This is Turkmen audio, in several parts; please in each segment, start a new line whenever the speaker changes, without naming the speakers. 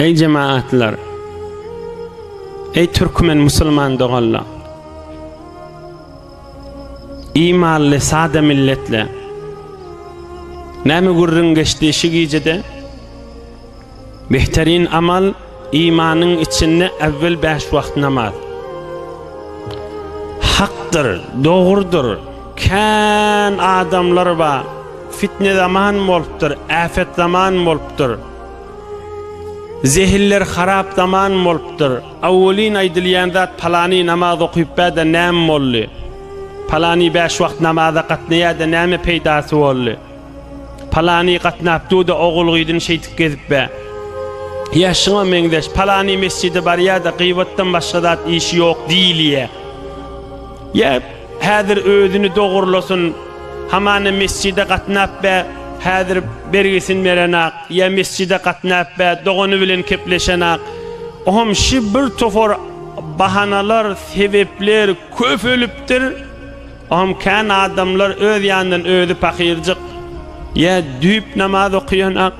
Eý jemaatlar! Eý türkmen musulman doganlar! Imanly sada milletler! Näme gürrüň geçdi şu gijede? Behterin amal, imanyň içinde äwwel bäş wagt namaz. Hakdyr, dogrudyr, kän adamlar bar, fitne zaman bolupdyr, äpet zaman bolupdyr, zehiller harap zaman bolupdyr, awwelin aýdylýan zat palany namaz okyp bä-de näme boldy, palany bäş wagt namaza gatnaýa-da näme peýdasy boldy. Palany gatnap duda ogul gyzyn şeýdip gezip be. Ýa şuňa meňzeş palany mesjide barýada gybatdan başga zat işi ýok diýilýä. Ýa häzir özüni dogurlasyn hamana mesjide gatnap be häzir bergisini berenak ýa mesjide gatnap be dogany bilen kepleşenak oham şi bir topar bahanalar sebepler köpelipdir. Oňam kän adamlar öz ýanyndan özi pahyrjyk, ýa düýp namaz okaýanak,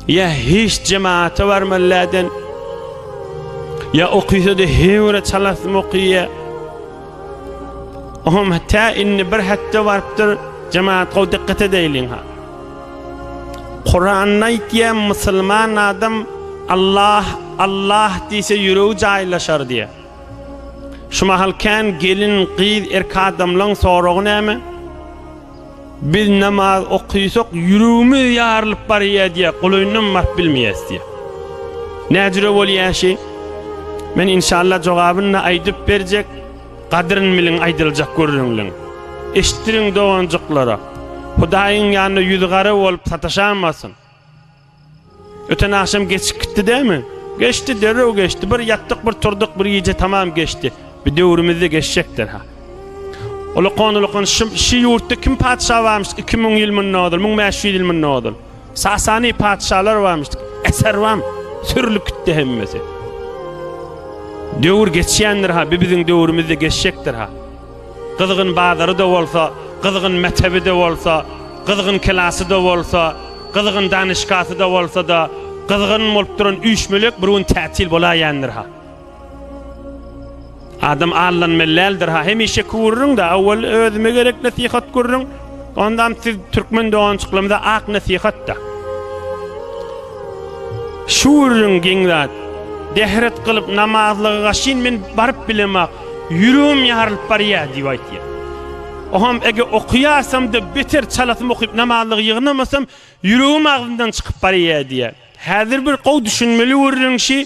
ýa hiç jemata barman läden, ýa okysa-da heýwre çalasym okyýa. Oňam tä indi bir hepde barypdyr, jemaat gowy dikkat edeýliň-ha. Kuranda aýtýa musulman adam Allah, Allah diýse ýüregi jaýlaşar diýýä. Şu mahal kän gelin, gyz, erk adamlaň soragy näme? Biz namaz okysak ýüregimiz ýarylyp barýa diýä, golaýyndan baryp bilmeýäs diýä. Näjüre bolýa şi? Men inşallah jogabyny aýdyp berjek, gadryn biliň aýdyljak gürrüňliň. Eşitdiriň doganjyklara. Hudaýyň ýanynda ýüzi gara bolup sataşamasyn. Öten agşam geçip gitdi dämi? Geçdi, derrew geçdi. Bir ýatdyk, bir turduk, bir gije tamam geçdi. Bi döwrümizde geçjekdir-ha. Ulukan-ulukan şum şi ýurtda kim patyşa barmyş? Iki müň ýyl mundan ozal, müň bäş ýüz ýyl mundan ozal. Sasani patyşalar barmyş? Eser bam, sürlüp gitdi hemmesi. Döwür geçýändir-ha, bi biziň döwrümizde geçjekdir-ha. Gyzgyn bazary-da bolsa, gyzgyn mektebi-de bolsa, gyzgyn klasy-da bolsa, gyzgyn danyşgasy-da bolsa-da, gyzgyn bolup duran üýşmelek bir gün tätil bolaýendir-ha. Adam allanmaly däldir-ha. Hemişe kürüriň-de, awwal özüme gerek nesihat gürüriň, ondam siz türkmen dogançyklarymyza ak nesihat-da. Şüwüriň geň zat. Dehret gylyp namazlyga gaşyn men baryp bilemak. Ýüregim ýarylyp barýar diýip aýtýar. Oňam eger okaýarsam-da beter çalasym okyp namazlygy ýygnamasam ýüregim agzymdan çykyp barýar diýýär. Häzir bir gowy düşünmeli gürrüň şi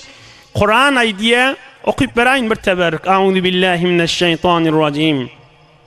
Kuran aýdýar, okyp beraýyn bir teberrük, Auzubillahi mineşşeýtanirrajim.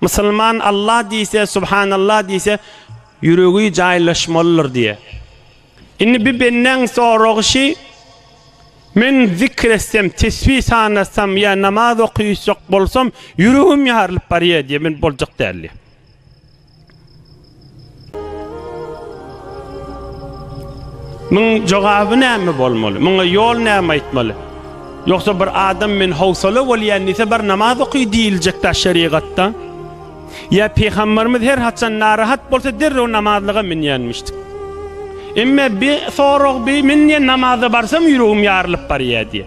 Musulman Allah diýse, Subhanallah diýse, ýüregi jaýlaşmalydyr diýýär. Indi bir bendäň soragy şi, Men zikr etsem, tesbi sanasam ýa namaz okuyjak bolsam, ýüregim ýarylyp barýar diýýär, men boljak däl diýýär. Muň jogaby näme bolmaly? Muňa ýol näme aýtmaly? Ýogsa bir adam men howsala bolýan diýse bar namaz oky diýiljekdä şerigatda? Ýa pygamberimiz her haçan narahat bolsa derrew namazlyga münýänmişdik. Emme bi sorag bi men diýen namaza barsam ýüregim ýarylyp barýa diýe.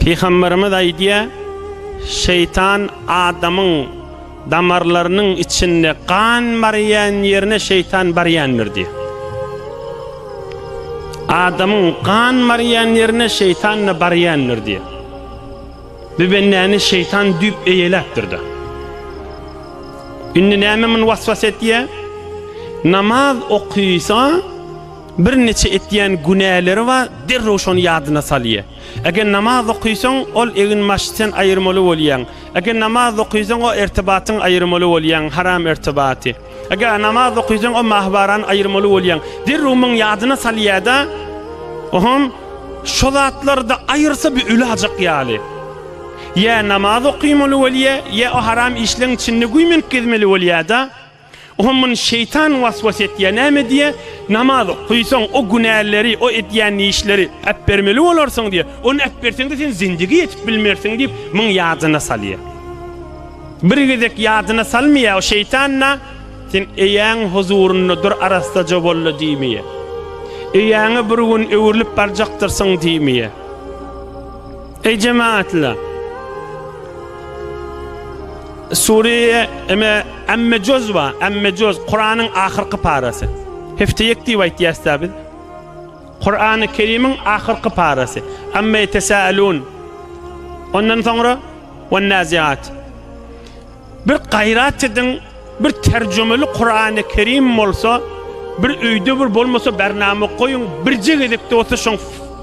Pygamberimiz aýdýar, Şeýtan adamyň damarlarynyň içinde gan barýan ýerine şeýtan barýandyr diýýär. Adamyň gan barýan ýerine şeýtan-da barýandyr diýýär. Bu bendäni şeýtan düýp eýeläpdir-de. Indi näme muny waswas etýär? Namaz okysa, Bir neçe etýän günäleri bar, derrew şony ýadyna salýar. Eger namaz okysaň, ol eginbaşy sen aýyrmaly bolýaň. Eger namaz okysaň, o ertibatyň aýyrmaly bolýaň, haram ertibaty. Eger namaz okysaň, o mahybarany aýyrmaly bolýaň. Derrew muny ýadyna salýar-da, oňam şo zatlary-da aýyrsa bir ölajak ýaly. Ýa namaz okymaly bolýar, ýa o haram işleň içinde güýmenip gezmeli bolýar-da. Oha muny şeýtan waswas etýär. Näme diýýär? Namaz okaýsaň, o günäleri, o edýän işleri äpbermeli bolarsyň diýýär. Ony äpberseň-de sen zindigi ýetip bilmersiň diýip, muň ýadyna salýar. Bir gezek ýadyna salmaýar, o şeýtan-da, Sen eýäň huzurynda dur, arassaja bol-la diýmeýär. Eýäňe bir gün öwrülip barjakdyrsyň diýmeýär. Eý jemagatlar! Sûreýi Eme Amme Juz bar. Amme Juz, Kuranyň ahyrky parasy. Hefte ýek diýip aýtýas-da biz. Kurany Kerimiň ahyrky parasy. Amme Ýetesâelûn. Ondan soňra Wennâziât. Bir gaýrat ediň, bir terjimeli Kurany Kerim bolsa, bir öýde bir bolmasa bernama goýuň, birje gezek-de bolsa şoň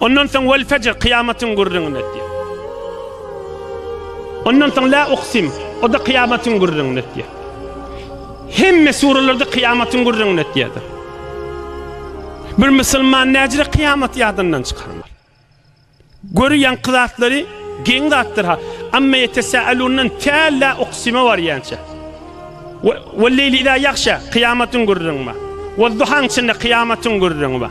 Ondan soň Wal fejr, kyýamatyň gürrüňini etýär. Ondan soň La uksim, o-da kyýamatyň gürrüňini etýär. Hemme suralarda kyýamatyň gürrüňini etýärdir. Bir musulman näjire kyýamat ýadyndan çykarmaly. Göri ýaňky zatlary geň zatdyr ha. Amma ýetesälundan tä La uksime barýança. Wal leýli ýagşa, kyýamatyň gürrüňi bar. Wal duhaň içinde kyýamatyň gürrüňi bar.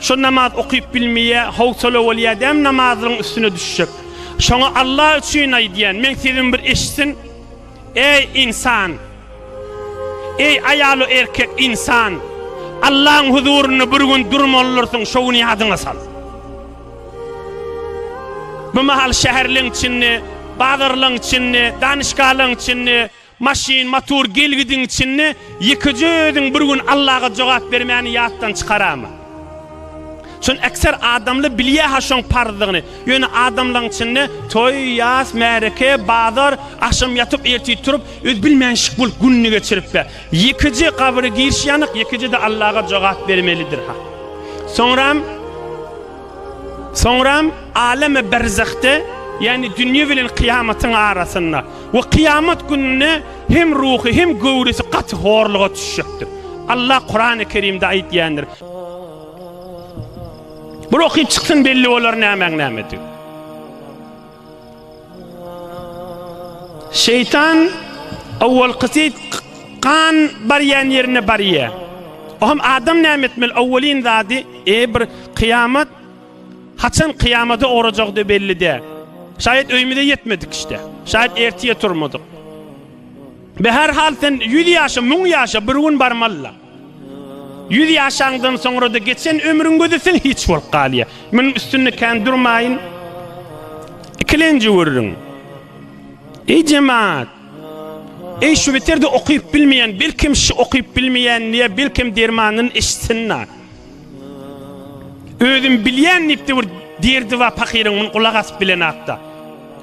Şo namaz okyp bilmeýä howsala bolýa däm namazlaryň üstüne düşjek. Şoňa Allah üçin aýdýan men sözüm bir eşitsin Eý ynsan! Eý aýalu erkek ynsan! Allaň huzurynda bir gün durmalydyrsyn şo güni ýadyňa sal. Bu mahal şäherleň içinde, bazarlaň içinde, danyşgalaň içinde, Maşyn, motor gelgidiň içinde ýekeje özüň bir gün Allaga jogap bermäni ýatdan çykarama. Şony ekser adamly bilýä-ha şoň parzdygyny. Ýöne adamlaň içinde toý, ýas, märeke, bazar, agşam ýatyp, ertir turup, özi bilmänşik bolup gününi geçirip-ä. Ýekeje gabra giriş ýanyk, ýekeje-de Allaga jogap bermelidir-ha. Soňram, soňram aleme berzahde, ýagny dünýe bilen kyýamatyň arasynda, We kyýamat gününde hem ruhy, hem göwresi gaty horluga düşjekdir. Allah Kurany Kerimde aýtýandyr. Bu ruhy çyksyn belli bolar nämäň nämedigi. Şeytan awwalkysy kan barýan ýerine barýar. Ohm adam näme etmeli? Awwalyn zady, e bir kyýamat Haçan kyýamada orajagyda belli däl. Şaýat öýümize ýetmedik işte. Şaýat ertiýe turmadyk. Be her hal sen ýüz ýaşa, müň ýaşa bir gün barmalyla. Ýüz ýaşaňdan soňrada geçen ömrüň gözi sen hiç bolup galýa. Müň üstünde kän durmaýyn. Ikilenji görüň. Eý jemaat. Eý şu beterde okyp bilmeýän, belkem şu okyp bilmeýän diýe, belkem dermanyn içsin-la. Özüm bilýän diýipdi bir derdiwa pahyryň muny gulak asyp bilenakda.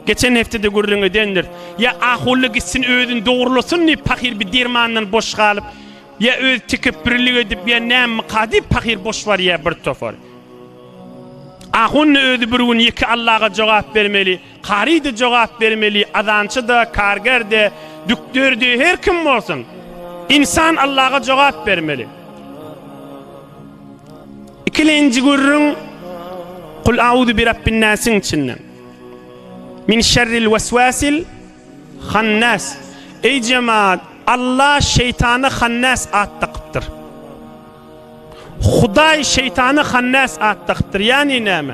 Geçen hepdede gürrüň edendir. Ýa ahulla gitsin özüni dogrulasyn diýip pahyr bir dermandan boş galyp, ýa öz tekepbürlik edip ýa nämika diýip pahyr boş barýa bir topar. Ahunna özi bir gün ýeke Allaga jogap bermeli. Kary-da jogap bermeli, azançy-da, karger-de, dükder-de, her kim bolsun. Ynsan Allaga jogap bermeli. Ikilenji gürrüň Kul auzu bi rabbin nasiň içinden. Min şerril weswasil hannas. Eý jemaat, Allah şeýtana hannas at dakypdyr. Hudaý şeýtana Hannas at dakypdyr, ýagny näme?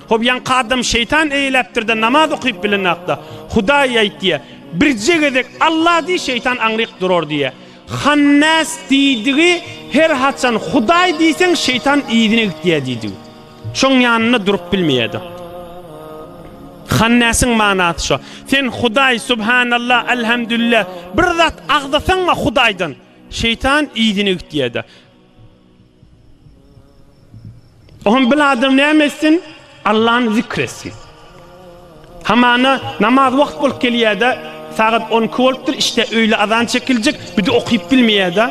Hop, ýaňky adam şeýtan eýläpdir-de, namaz okyp bilenok-da. Hudaý aýt diýýär. Birje gezek Alla diý, şeýtan aňryk durar diýýär. Hannas diýdigi her haçan Hudaý diýseň, şeýtan yzyna gitýär diýdigi. Şoň ýanynda durup bilmeýär-de. Hannasyň manasy şo. Sen Hudaý, Subhanallah, Alhamdulillah, bir zat agzasaň-a Hudaýdan, Şeýtan yzyny gitýärdi. Oňa bir adam näme etsin? Allany zikr etsin. Hamana namaz wagt bolup gelýärdi. Sagat 12 bolupdyr, işte öýle azan çekiljek, bir de okyp bilmeýärdi.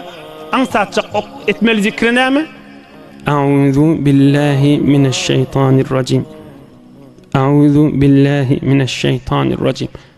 Aňsatjak ok etmeli zikri näme? Auzu billahi mineşşeýtanirrajim. Auzu billahi mineşşeýtanirrajim.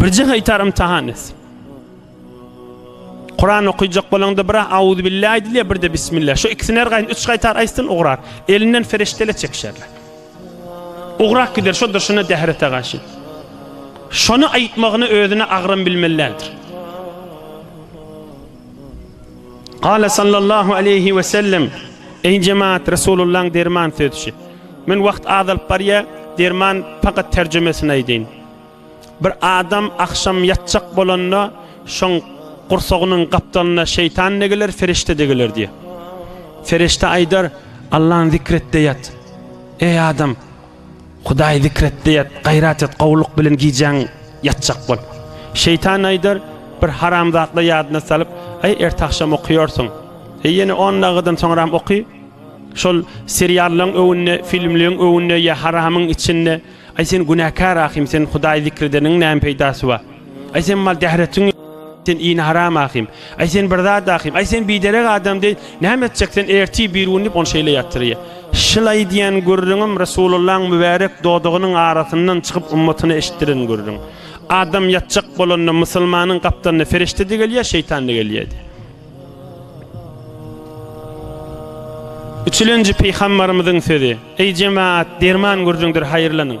Birje gaýtar imtahan et. Kur'an okuyacak bolanda bir auzu billahi aýdylýar, bir de bismillah. Şu ikisini her gaýyn üç gaýtar aýtsyn ugrar. Elinden feriştele çekişerler. Ugrak gider şu durşuna dehrete gaşy. Şonu aýtmagyny özüne agram bilmelidir. Kale sallallahu aleyhi ve sellem Eý jemaat Resulullaň derman sözçi. Men wagt azalyp barýa, derman fakat terjimesini aýdyn. Bir adam akşam ýatjak bolanda şoň gursagynyň gapdalynda şeýtan degiler, ferişte degiler diýe. Ferişte aýdar, Allahny zikret de ýat. Eý adam! Hudaýy zikr et-de ýat, gaýrat et, gowulyk bilen gijäň ýatjak bol. Şeýtan aýdar, Bir haramzatly ýadyna salyp, Aý, ertagşam okaýarsyň. E, ýene on dagydan soňram oky. Şol seriallaryň öňünde, filmleriň öňünde ýa haramyň içinde, Aý, sen günäkär ahym, sen Hudaýy zikr edeniň näme peýdasy bar? Aý sen mal dähretin sen ini haram ahim. Aý sen bir zat ahim. Aý sen biderek adam diýip, näme etjek sen erti bir gün diýip ony şeýle ýatyrýar. Şyl aýdýan gürrüňim Resulullahyň mübärek dodagynyň arasyndan çykyp ümmatyna eşitdiren gürrüň. Adam ýatjak bolanda musulmanyň gapdalyna ferişde-de gelýär, şeýtan-da gelýärdi. Üçülenji pygambarymyzyň sözi, Eý jemaat, derman gürrüňdir haýyrlanyň.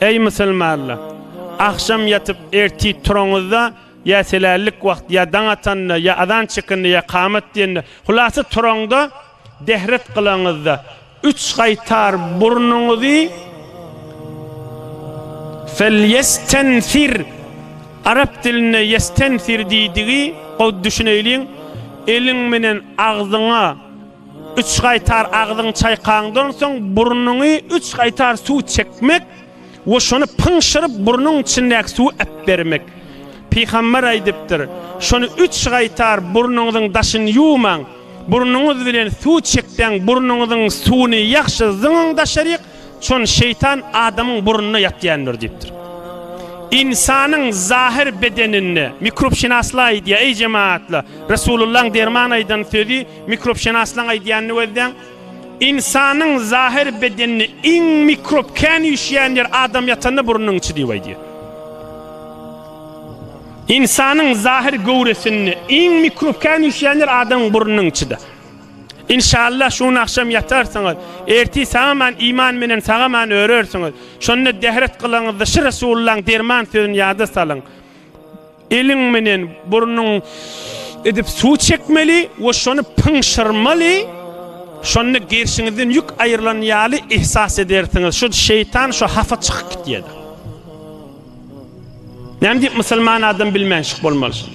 Eý musulmanlar! Agşam ýatyp ertir turaňyzda, ýa selällik wagty, ýa daň atanda, ýa azan çekende, ýa kamat diýende, hulasa turaňda, dehret kylaňyzda, üç gaýtar burnuňyzy Felýestenfir, arap dilinde ýestenfir diýdigi, gowy düşüneýliň, eliň menen agzyňa, Üç gaýtar agzyňy çaýkaňdan soň burnuňy üç gaýtar suw çekmek we şony pyňşyryp burnuň içindäki suwy äpbermek. Pygamber aýdypdyr, Şony üç gaýtar burnuňyzyň daşyny ýuwmaň, burnuňyz bilen suw çekseň burnuňyzyň suwuny ýagşy zyňyň daşaryk, çon şeýtan adamyň burnuna ýatýandyr diýipdir. Ynsanyň zahyr bedeninde, mikrobşynaslar aýdýar, eý jematlar, Resulullaň derman aýdan sözi, Mikrobşenaslaň aýdýanyny gözläň. Ynsanyň zahyr bedeninde iň mikrob kän üýşýän ýer adam ýatanda burnunyň içi diýip aýdýar. Ynsanyň zahyr göwresinde iň mikrob kän üýşýän ýer adamyň burnunyň içidir. İnşallah şu gün akşam yatarsyňyz. Erti sagaman iman bilen sagaman örersiniz. Şonda dehret kılaňyzda şu Resulullah'ın derman sözünü yada salyň. Eliň menen burnuň edip suw çekmeli we şony pyňşyrmaly, şonda gerşiňizden ýük aýrylan ýaly ihsas edersiňiz, şu şeýtan şu hafa çykyp gitýärdi. Näme diýip musulman adam bilmänşik bolmaly şu?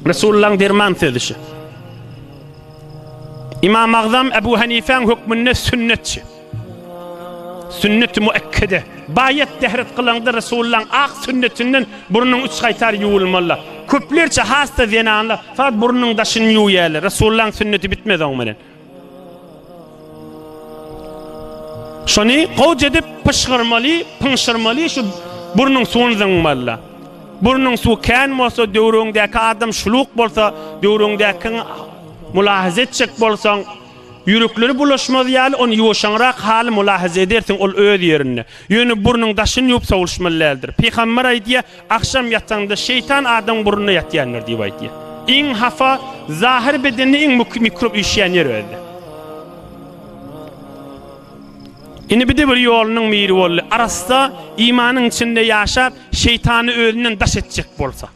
Resulullah derman sözi şu. İmam Agzam Ebu Hanifeň hökmünde sünnetçi. Sünnet-i müekkede, baýat dehret kylaňda Resulullahyň ak sünnetinden burnuň üç gaýtar ýuwulmalydyr. Köplerçe has-da zenanlar fagt burnuň daşyny ýuwýarlar. Resulullahyň sünneti bitmez oň bilen. Şony gowja edip pyşgyrmaly, pyňşyrmaly, şu burnuň suwuny zyňmalydyr. Burnuň suwy kän bolsa, döwrüňdäki adam şuluk bolsa, döwrüňdäkiňi mülahaza etjek bolsaň, Ýürekleri bulaşmaz ýaly ony ýuwaşaňrak haly mylahaza edersiň, ol öz ýerinde. Ýöne burnuň daşyny ýuwup sowulşmaly däldir. Pygamber aýdýar, Agşam ýataňda şeýtan adamyň burnuna ýatýandyr diýip aýdýar. Iň hafa, zahyr bedende iň muky mikrop üýşýän ýer özde. Indi bide bir ýolunyň miri boldy. Arassa, imanyň içinde ýaşap, şeýtany özünden daş etjek bolsa.